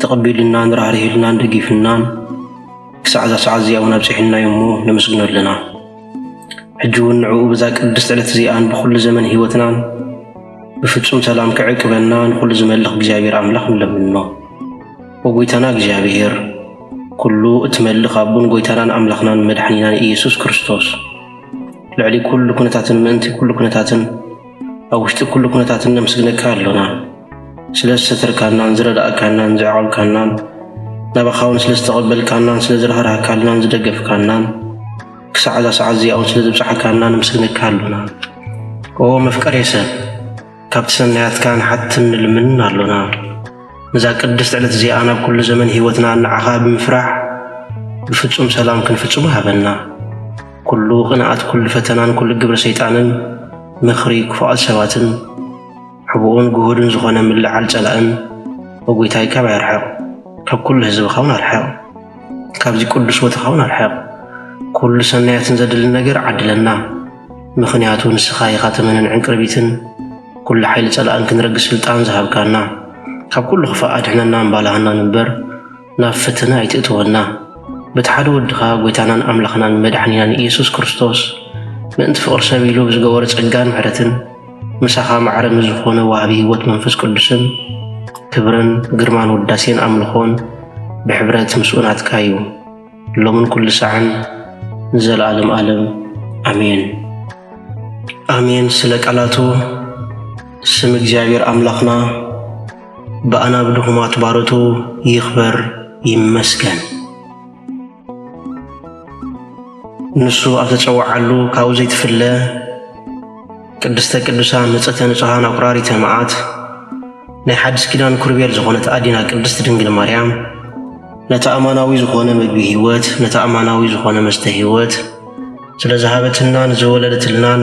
ተቐቢሉናን ራህሪህሉናን ደጊፉናን ክሳዕ እዛ ሰዓት እዚኣ እውን ኣብጺሑና እዩ እሞ ነመስግኖ ኣለና። ሕጂ እውን ንዕኡ በዛ ቅድስቲ ዕለት እዚኣን ብዅሉ ዘመን ህይወትናን ብፍጹም ሰላም ክዕቅበና ንዅሉ ዝመልኽ እግዚኣብሔር ኣምላኽ ንለምኖ። ወጐይታና እግዚኣብሔር ኵሉ እትመልኽ ኣቦን ጐይታናን ኣምላኽናን መድሓኒናን ኢየሱስ ክርስቶስ ልዕሊ ኵሉ ኵነታትን ምእንቲ ኵሉ ኵነታትን ኣብ ውሽጢ ኩሉ ኩነታት እነምስግነካ ኣሎና ስለ ዝሰተርካናን ዝረዳእካናን ዘዕቆብካናን ናባኻ እውን ስለ ዝተቐበልካናን ስለ ዝረህራህካልናን ዝደገፍካናን ክሳዕ እዛ ሰዓት እዚኣ እውን ስለ ዝብፅሓካና ንምስግነካ ኣሎና ኦ መፍቀሬ ሰብ ካብቲ ሰናያትካ ንሓትን ንልምንን ኣሎና ነዛ ቅድስቲ ዕለት እዚኣ ናብ ኩሉ ዘመን ህይወትና ንዓኻ ብምፍራሕ ብፍጹም ሰላም ክንፍጽሙ ሃበና ኩሉ ቅንኣት ኩሉ ፈተናን ኩሉ ግብሪ ሰይጣንን ምኽሪ ክፉኣት ሰባትን ሕቡኡን ግሁድን ዝኾነ ምልዕዓል ጸላእን ኦ ጐይታይ ካባይ ኣርሕቕ ካብ ኩሉ ህዝብኻውን ኣርሕቕ ካብዚ ቅዱስ ቦታኻውን ኣርሕቕ ኩሉ ሰናያትን ዘድሊ ነገር ዓድለና ምኽንያቱ ንስኻ ኢኻ ተመንን ዕንቅርቢትን ኩሉ ሓይሊ ጸላእን ክንረግስ ስልጣን ዝሃብካና ካብ ኩሉ ክፋእ ኣድሕነና እምባላሃና ንበር ናብ ፈተና ኣይትእትወና በቲ ሓደ ወድኻ ጐይታናን ኣምላኽናን መድሓኒናን ኢየሱስ ክርስቶስ ምእንቲ ፍቕሪ ሰብ ኢሉ ብዝገበሮ ጸጋን ምሕረትን ምሳኻ ማዕረ ምስ ዝኾነ ወሃቢ ሕይወት መንፈስ ቅዱስን ክብርን ግርማን ውዳሴን ኣምልኾን ብሕብረት ምስኡ ናትካ እዩ ሎምን ኩሉ ሳዕን ንዘለዓለም ዓለም ኣሜን ኣሜን ስለ ቃላቱ ስም እግዚኣብሔር ኣምላኽና ብኣናብ ድኹማት ባሮቱ ይኽበር ይመስገን። ንሱ ኣብ ተጸውዓሉ ካብኡ ዘይትፍለ ቅድስተ ቅዱሳን ንጽሕተ ንጹሓን ኣቁራሪተ መዓት ናይ ሓድስ ኪዳን ኩርቤል ዝኾነት ኣዲና ቅድስት ድንግል ማርያም ነቲ ኣማናዊ ዝኾነ ምግቢ ሕይወት ነቲ ኣማናዊ ዝኾነ መስተ ሕይወት ስለ ዝሃበትናን ዝወለደትልናን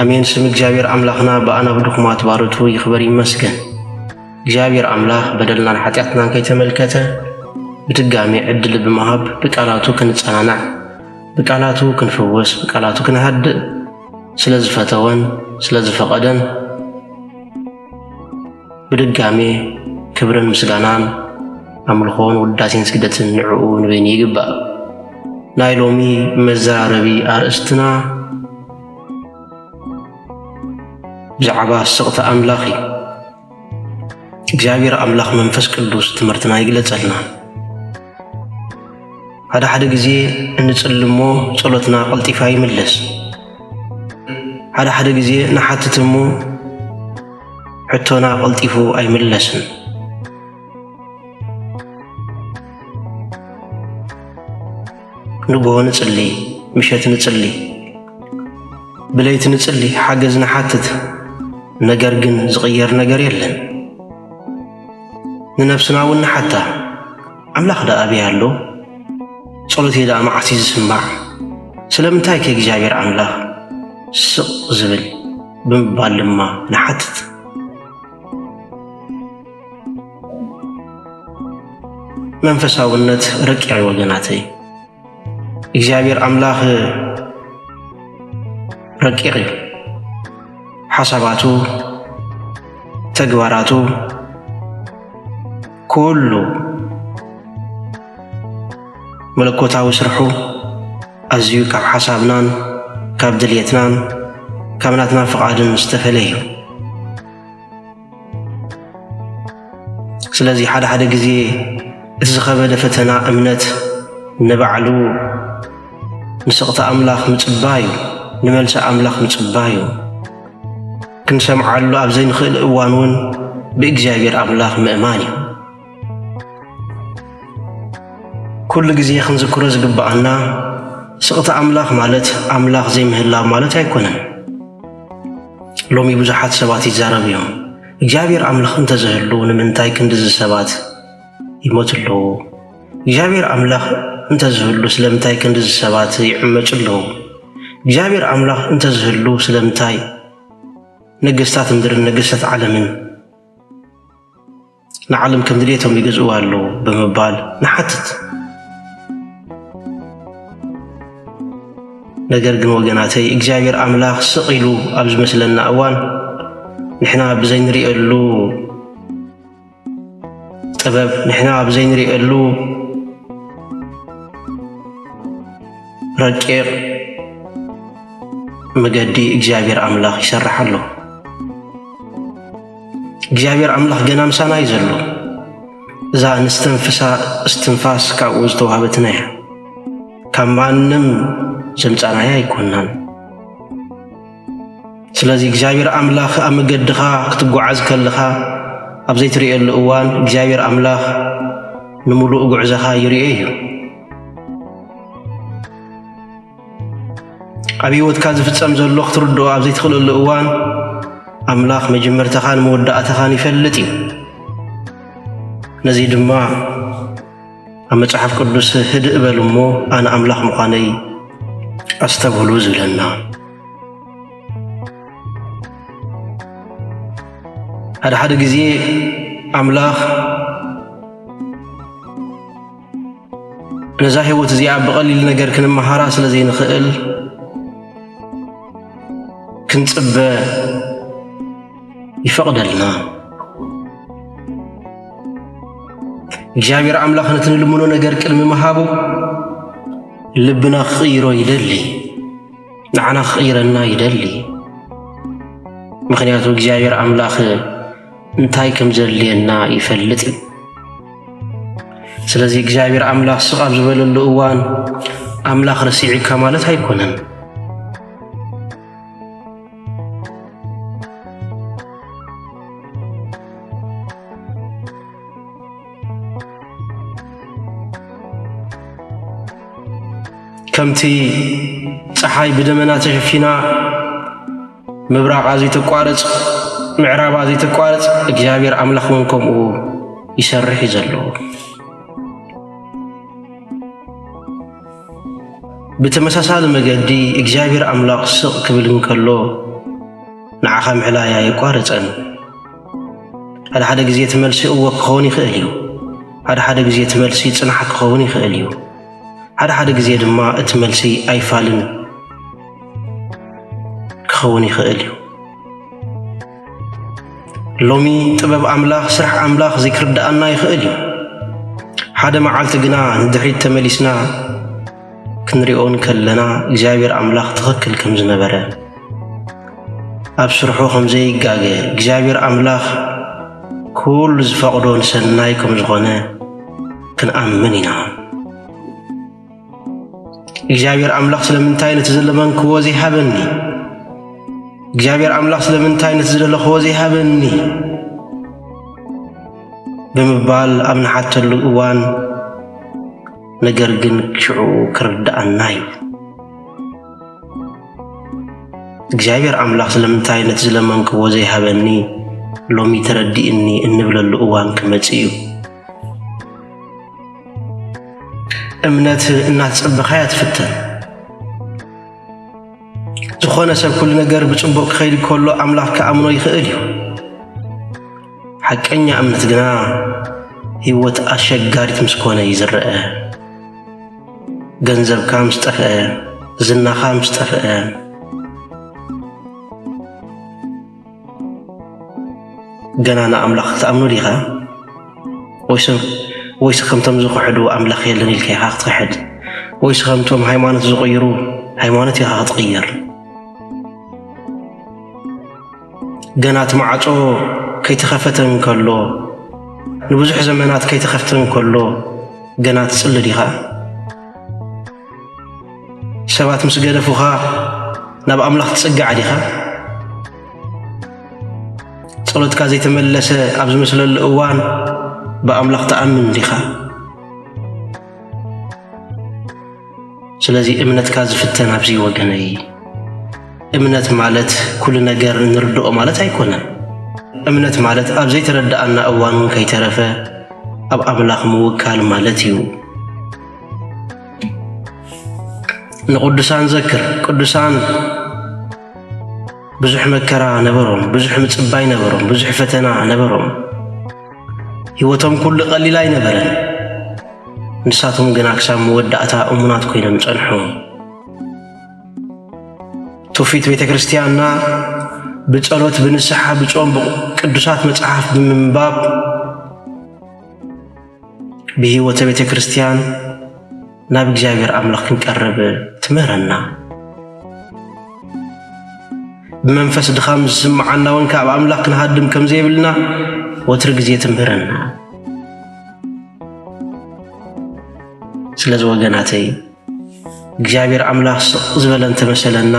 ኣሜን ስም እግዚኣብሔር ኣምላኽና ብኣና ብድኹማት ባሮቱ ይኽበር ይመስገን። እግዚኣብሔር ኣምላኽ በደልናን ሓጢኣትናን ከይተመልከተ ብድጋሜ ዕድል ብምሃብ ብቃላቱ ክንጸናናዕ፣ ብቃላቱ ክንፍወስ፣ ብቃላቱ ክንሃድእ ስለ ዝፈተወን ስለ ዝፈቐደን ብድጋሜ ክብርን ምስጋናን ኣምልኾን ውዳሴን ስግደትን ንዕኡ ንበይኑ ይግባእ። ናይ ሎሚ መዘራረቢ ኣርእስትና ብዛዕባ ስቕቲ ኣምላኽ እዩ። እግዚኣብሔር ኣምላኽ መንፈስ ቅዱስ ትምህርትና ይግለጸልና። ሓደ ሓደ ግዜ እንጽልሞ ጸሎትና ቀልጢፋ ይምለስ። ሓደ ሓደ ግዜ ንሓትት እሞ ሕቶና ቀልጢፉ ኣይምለስን። ንግሆ ንጽሊ፣ ምሸት ንጽሊ፣ ብለይቲ ንጽሊ፣ ሓገዝ ንሓትት፣ ነገር ግን ዝቕየር ነገር የለን። ንነፍስና እውን ንሓታ፣ ኣምላኽ ደኣ ኣበይ ኣሎ? ጸሎተይ ደኣ መዓስ እዩ ዝስማዕ? ስለምንታይ ከ እግዚኣብሔር ኣምላኽ ስቕ ዝብል? ብምባል ድማ ንሓትት። መንፈሳውነት ረቂቕ እዩ ወገናተይ። እግዚኣብሔር ኣምላኽ ረቂቕ እዩ። ሓሳባቱ፣ ተግባራቱ ኩሉ መለኮታዊ ስርሑ ኣዝዩ ካብ ሓሳብናን ካብ ድልየትናን ካብ ናትና ፍቓድን ዝተፈለየ እዩ። ስለዚ ሓደ ሓደ ግዜ እቲ ዝኸበደ ፈተና እምነት ንባዕሉ ንስቕታ ኣምላኽ ምጽባዩ ንመልሲ ኣምላኽ ምጽባዩ ክንሰምዓሉ ኣብ ዘይንኽእል እዋን እውን ብእግዚኣብሔር ኣምላኽ ምእማን እዩ። ኩሉ ግዜ ክንዝክሮ ዝግብኣና ስቕታ ኣምላኽ ማለት ኣምላኽ ዘይምህላው ማለት ኣይኮነን። ሎሚ ብዙሓት ሰባት ይዛረቡ እዮም። እግዚኣብሔር ኣምላኽ እንተዝህሉ ንምንታይ ክንድዚ ሰባት ይሞት ኣለዉ? እግዚኣብሔር ኣምላኽ እንተዝህሉ ስለምንታይ ክንድዚ ሰባት ይዕመጹ ኣለዉ? እግዚኣብሔር ኣምላኽ እንተዝህሉ ስለምንታይ ነገስታት ምድርን ነገስታት ዓለምን ንዓለም ከም ድሌቶም ይገዝእዋ ኣለዉ ብምባል ንሓትት። ነገር ግን ወገናተይ እግዚኣብሔር ኣምላኽ ስቕ ኢሉ ኣብ ዝመስለና እዋን ንሕና ብዘይንሪእየሉ ጥበብ ንሕና ብዘይንሪእየሉ ረቂቕ መገዲ እግዚኣብሔር ኣምላኽ ይሰርሕ ኣሎ። እግዚኣብሔር ኣምላኽ ገና ምሳና እዩ ዘሎ። እዛ እንስተንፍሳ እስትንፋስ ካብኡ ዝተዋህበትና እያ። ካብ ማንም ዘምጻናያ ኣይኮናን። ስለዚ እግዚኣብሔር ኣምላኽ ኣብ መገድኻ ክትጓዓዝ ከለኻ ኣብ ዘይትርእየሉ እዋን እግዚኣብሔር ኣምላኽ ንምሉእ ጉዕዘኻ ይርኦ እዩ። ኣብ ህይወትካ ዝፍጸም ዘሎ ክትርድኦ ኣብ ዘይትኽእለሉ እዋን ኣምላኽ መጀመርታኻን መወዳእታኻን ይፈልጥ እዩ። ነዚ ድማ ኣብ መጽሓፍ ቅዱስ ህድእ በሉ እሞ ኣነ ኣምላኽ ምዃነይ ኣስተብህሉ ዝብለና ሓደ ሓደ ግዜ ኣምላኽ ነዛ ህይወት እዚኣ ብቐሊል ነገር ክንመሃራ ስለ ዘይንኽእል ክንጽበ ይፈቕደልና። እግዚኣብሔር ኣምላኽ ነቲ ንልምኖ ነገር ቅድሚ ምሃቡ ልብና ክቕይሮ ይደሊ፣ ንዓና ክቕይረና ይደሊ። ምኽንያቱ እግዚኣብሔር ኣምላኽ እንታይ ከም ዘድልየና ይፈልጥ እዩ። ስለዚ እግዚኣብሔር ኣምላኽ ስቕ ኣብ ዝበለሉ እዋን ኣምላኽ ረሲዕካ ማለት ኣይኮነን። ከምቲ ፀሓይ ብደመና ተሸፊና ምብራቓ ዘይተቋርጽ ምዕራባ ዘይተቋርጽ እግዚኣብሔር ኣምላኽ እውን ከምኡ ይሰርሕ እዩ ዘለዎ ብተመሳሳሊ መገዲ እግዚኣብሔር ኣምላኽ ስቕ ክብል እንከሎ ንዓኻ ምሕላይ ኣይቋረጸን ሓደ ሓደ ግዜ ትመልሲ እወ ክኸውን ይኽእል እዩ ሓደ ሓደ ግዜ ትመልሲ ጽናሕ ክኸውን ይኽእል እዩ ሓደ ሓደ ግዜ ድማ እቲ መልሲ ኣይፋልን ክኸውን ይኽእል እዩ። ሎሚ ጥበብ ኣምላኽ ስራሕ ኣምላኽ ዘይክርድኣና ይኽእል እዩ። ሓደ መዓልቲ ግና ንድሕሪት ተመሊስና ክንሪኦ እንከለና እግዚኣብሔር ኣምላኽ ትኽክል ከም ዝነበረ ኣብ ስርሑ ከም ዘይጋገ እግዚኣብሔር ኣምላኽ ኩሉ ዝፈቕዶ ንሰናይ ከም ዝኾነ ክንኣምን ኢና። እግዚኣብሔር ኣምላኽ ስለምንታይ ነቲ ዝለመንክዎ ዘይሃበኒ? እግዚኣብሔር ኣምላኽ ስለምንታይ ነቲ ዝደለኽዎ ዘይሃበኒ? ብምባል ኣብ ንሓተሉ እዋን ነገር ግን ሽዑ ክርድኣና እዩ። እግዚኣብሔር ኣምላኽ ስለምንታይ ነቲ ዝለመንክዎ ዘይሃበኒ ሎሚ ተረዲእኒ እንብለሉ እዋን ክመጽእ እዩ። እምነት እናተጸበኻያ ትፍተን። ዝኾነ ሰብ ኩሉ ነገር ብጽቡቕ ክኸይድ ከሎ ኣምላኽ ክኣምኖ ይኽእል እዩ። ሓቀኛ እምነት ግና ህይወት ኣሸጋሪት ምስ ኮነ እዩ ዝረአ። ገንዘብካ ምስ ጠፍአ፣ ዝናኻ ምስ ጠፍአ ገና ንኣምላኽ ትኣምኖ ዲኻ? ወይስ ከምቶም ዝኽሕዱ ኣምላኽ የለን ኢልካ ኢኻ ክትክሕድ? ወይስ ከምቶም ሃይማኖት ዝቕይሩ ሃይማኖት ኢኻ ክትቕይር? ገና እቲ ማዕጾ ከይተኸፈተ እንከሎ ንብዙሕ ዘመናት ከይተኸፍተ እንከሎ ገና ትጽሊ ዲኻ? ሰባት ምስ ገደፉኻ ናብ ኣምላኽ ትጽጋዕ ዲኻ? ጸሎትካ ዘይተመለሰ ኣብ ዝመስለሉ እዋን ብኣምላኽ ትኣምን ዲኻ? ስለዚ እምነትካ ዝፍተን ኣብዚ ወገነይ እምነት ማለት ኩሉ ነገር እንርድኦ ማለት ኣይኮነን። እምነት ማለት ኣብ ዘይተረድኣና እዋን እውን ከይተረፈ ኣብ ኣምላኽ ምውካል ማለት እዩ። ንቅዱሳን ዘክር ቅዱሳን ብዙሕ መከራ ነበሮም፣ ብዙሕ ምጽባይ ነበሮም፣ ብዙሕ ፈተና ነበሮም። ህይወቶም ኩሉ ቀሊል ኣይነበረን። ንሳቶም ግና ክሳብ መወዳእታ እሙናት ኮይኖም ጸንሑ። ትውፊት ቤተ ክርስቲያንና ብጸሎት፣ ብንስሓ፣ ብጾም፣ ቅዱሳት መጽሓፍ ብምንባብ ብሕይወተ ቤተ ክርስቲያን ናብ እግዚኣብሔር ኣምላኽ ክንቀርብ ትምህረና። ብመንፈስ ድኻም ዝስምዓና እውን ካብ ኣምላኽ ክንሃድም ከም ዘይብልና ወትሪ ግዜ ትምህረና። ስለዚ ወገናተይ እግዚኣብሔር ኣምላኽ ስቕ ዝበለ እንተመሰለና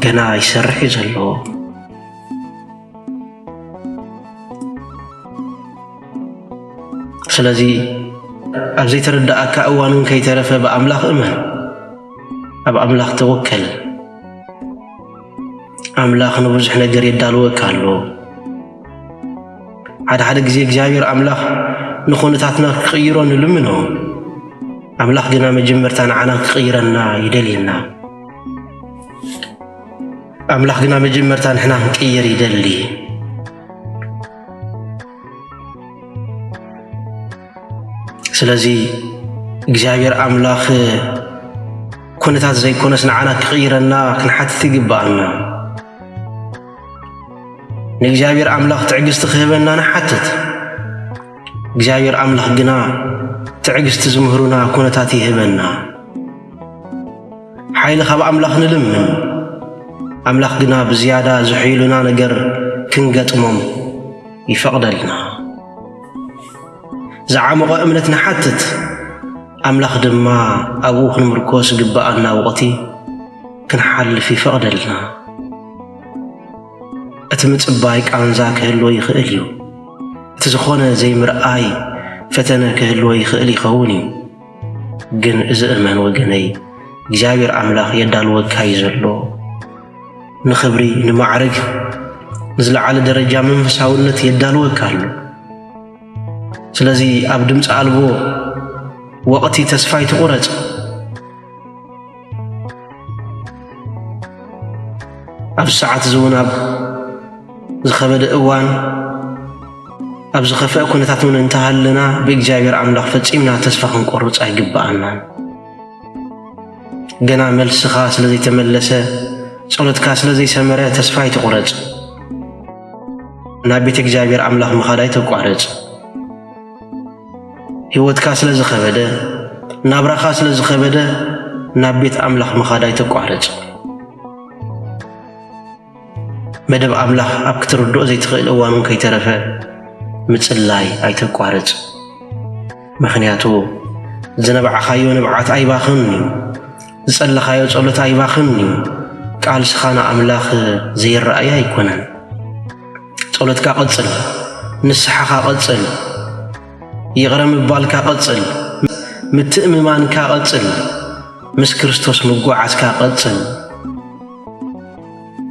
ገና ይሰርሕ እዩ ዘለዎ። ስለዚ ኣብ ዘይተረድኣካ እዋን እውን ከይተረፈ ብኣምላኽ እመን፣ ኣብ ኣምላኽ ተወከል። ኣምላኽ ንብዙሕ ነገር የዳልወካ ኣሎ። ሓደ ሓደ ግዜ እግዚኣብሔር ኣምላኽ ንኹነታትና ክቕይሮ ንልምኖ፣ ኣምላኽ ግና መጀመርታ ንዓና ክቕይረና ይደልየና። ኣምላኽ ግና መጀመርታ ንሕና ክንቅየር ይደሊ። ስለዚ እግዚኣብሔር ኣምላኽ ኩነታት ዘይኮነስ ንዓና ክቕይረና ክንሓትት ይግብኣና። ንእግዚኣብሔር ኣምላኽ ትዕግስቲ ክህበና ንሓትት። እግዚኣብሔር ኣምላኽ ግና ትዕግስቲ ዝምህሩና ኩነታት ይህበና። ሓይሊ ካብ ኣምላኽ ንልምን፣ ኣምላኽ ግና ብዝያዳ ዝሑይሉና ነገር ክንገጥሞም ይፈቕደልና። ዝዓሞቐ እምነት ንሓትት፣ ኣምላኽ ድማ ኣብኡ ክንምርኮስ ዝግብኣና ወቕቲ ክንሓልፍ ይፈቕደልና። እቲ ምጽባይ ቃንዛ ክህልዎ ይኽእል እዩ። እቲ ዝኾነ ዘይምርኣይ ፈተነ ክህልዎ ይኽእል ይኸውን እዩ። ግን እዚ እመን ወገነይ እግዚኣብሔር ኣምላኽ የዳልወካ እዩ ዘሎ ንኽብሪ ንማዕርግ ንዝለዓለ ደረጃ መንፈሳውነት የዳልወካ ኣሎ ስለዚ ኣብ ድምፂ ኣልቦ ወቕቲ ተስፋ ይትቑረፅ ኣብ ሰዓት እዚ እውን ኣብ ዝኸበደ እዋን ኣብ ዝኸፍአ ኩነታት እውን እንተሃለና ብእግዚኣብሔር ኣምላኽ ፈጺምና ተስፋ ክንቆርፅ ኣይግብኣናን። ገና መልስኻ ስለ ዘይተመለሰ ጸሎትካ ስለ ዘይሰመረ ተስፋ ኣይትቑረጽ። ናብ ቤተ እግዚኣብሔር ኣምላኽ ምኻድ ኣይተቋርጽ። ሕይወትካ ስለ ዝኸበደ፣ ናብራኻ ስለ ዝኸበደ፣ ናብ ቤት ኣምላኽ ምኻድ ኣይተቋርጽ። መደብ ኣምላኽ ኣብ ክትርድኦ ዘይትኽእል እዋን እውን ከይተረፈ ምጽላይ ኣይተቋርጽ። ምኽንያቱ ዝነብዓኻዮ ንብዓት ኣይባኽን እዩ፣ ዝጸለኻዮ ጸሎት ኣይባኽን እዩ፣ ቃልስኻ ንኣምላኽ ዘይረኣይ ኣይኮነን። ጸሎትካ ቀጽል፣ ንስሓኻ ቀጽል፣ ይቕረ ምባልካ ቀጽል፣ ምትእምማንካ ቀጽል፣ ምስ ክርስቶስ ምጓዓዝካ ቀጽል።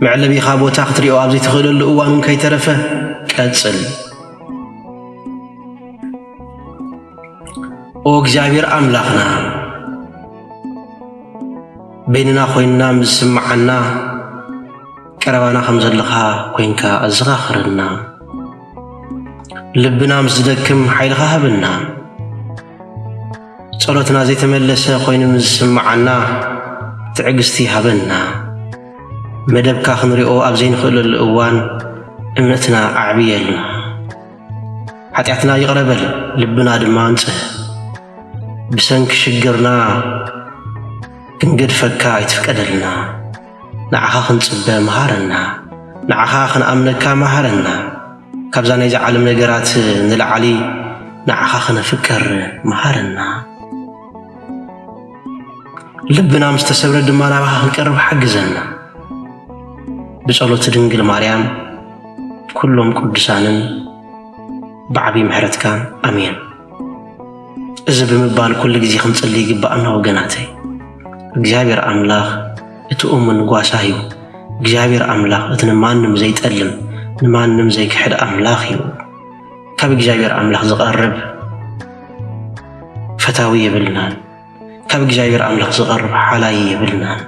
መዕለቢኻ ቦታ ክትሪኦ ኣብ ዘይትኽእለሉ እዋን እውን ከይተረፈ ቀጽል። ኦ እግዚኣብሔር ኣምላኽና በይንና ኾይንና ምስ ዝስምዓና ቀረባና ከም ዘለኻ ኮንካ ኣዘኻኽረና፣ ልብና ምስ ዝደክም ሓይልኻ ሃበና፣ ጸሎትና ዘይተመለሰ ኮይኑ ምስ ዝስምዓና ትዕግስቲ ሃበና፣ መደብካ ክንሪኦ ኣብ ዘይንኽእለሉ እዋን እምነትና ኣዕብየልና፣ ሓጢኣትና ይቕረ በል ልብና ድማ ኣንጽህ፣ ብሰንኪ ሽግርና ክንገድፈካ ኣይትፍቀደልና። ንዓኻ ክንጽበ መሃረና ንዓኻ ክንኣምነካ መሃረና ካብዛ ናይዛ ዓለም ነገራት ንላዕሊ ንዓኻ ክነፍቅር መሃረና ልብና ምስ ተሰብረ ድማ ናባኻ ክንቀርብ ሓግዘና ብጸሎት ድንግል ማርያም ኩሎም ቅዱሳንን ብዓብዪ ምሕረትካ ኣሜን እዚ ብምባል ኩሉ ግዜ ክንጽሊ ይግባኣና ወገናተይ። እግዚኣብሔር ኣምላኽ እቲ እሙን ጓሳ እዩ። እግዚኣብሔር ኣምላኽ እቲ ንማንም ዘይጠልም ንማንም ዘይክሕድ ኣምላኽ እዩ። ካብ እግዚኣብሔር ኣምላኽ ዝቐርብ ፈታዊ የብልናን። ካብ እግዚኣብሔር ኣምላኽ ዝቐርብ ሓላይ የብልናን።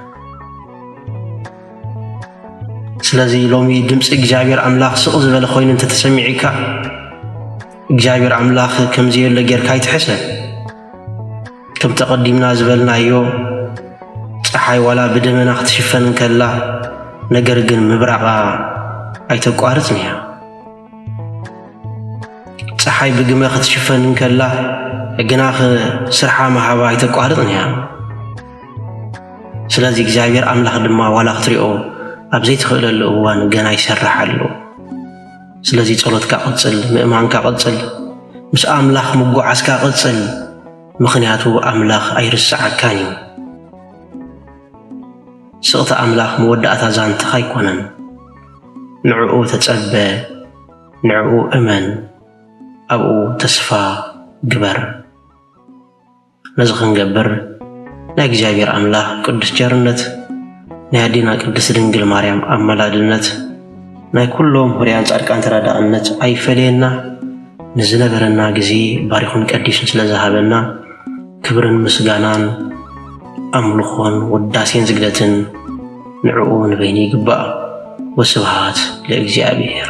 ስለዚ ሎሚ ድምፂ እግዚኣብሔር ኣምላኽ ስቕ ዝበለ ኮይኑ እንተተሰሚዒካ እግዚኣብሔር ኣምላኽ ከም ዘየሎ ጌርካ ኣይትሕሰብ። ከም ተቐዲምና ዝበልናዮ ፀሓይ ዋላ ብደመና ክትሽፈን እንከላ ነገር ግን ምብራቓ ኣይተቋርፅን እያ። ፀሓይ ብግመ ክትሽፈን እንከላ ግናኽ ስርሓ መሃባ ኣይተቋርፅን እያ። ስለዚ እግዚኣብሔር ኣምላኽ ድማ ዋላ ክትሪኦ ኣብ ዘይትኽእለሉ እዋን ገና ይሰርሕ ኣሎ። ስለዚ ጸሎትካ ቐጽል፣ ምእማንካ ቐጽል፣ ምስ ኣምላኽ ምጉዓዝካ ቐጽል፣ ምኽንያቱ ኣምላኽ ኣይርስዓካን እዩ። ስቕታ ኣምላኽ መወዳእታ ዛንትኻ ኣይኮነን። ንዕኡ ተጸበ፣ ንዕኡ እመን፣ ኣብኡ ተስፋ ግበር። ነዚ ክንገብር ናይ እግዚኣብሔር ኣምላኽ ቅዱስ ቸርነት ናይ ኣዴና ቅድስት ድንግል ማርያም ኣመላድነት ናይ ኩሎም ሁርያን ጻድቃን ተራዳእነት ኣይፈለየና ንዝነበረና ግዜ ባሪኹን ቀዲሱን ስለ ዝሃበና ክብርን ምስጋናን ኣምልኾን ውዳሴን ዝግደትን ንዕኡ ንበይኑ ይግባእ። ወስብሃት ለእግዚኣብሔር።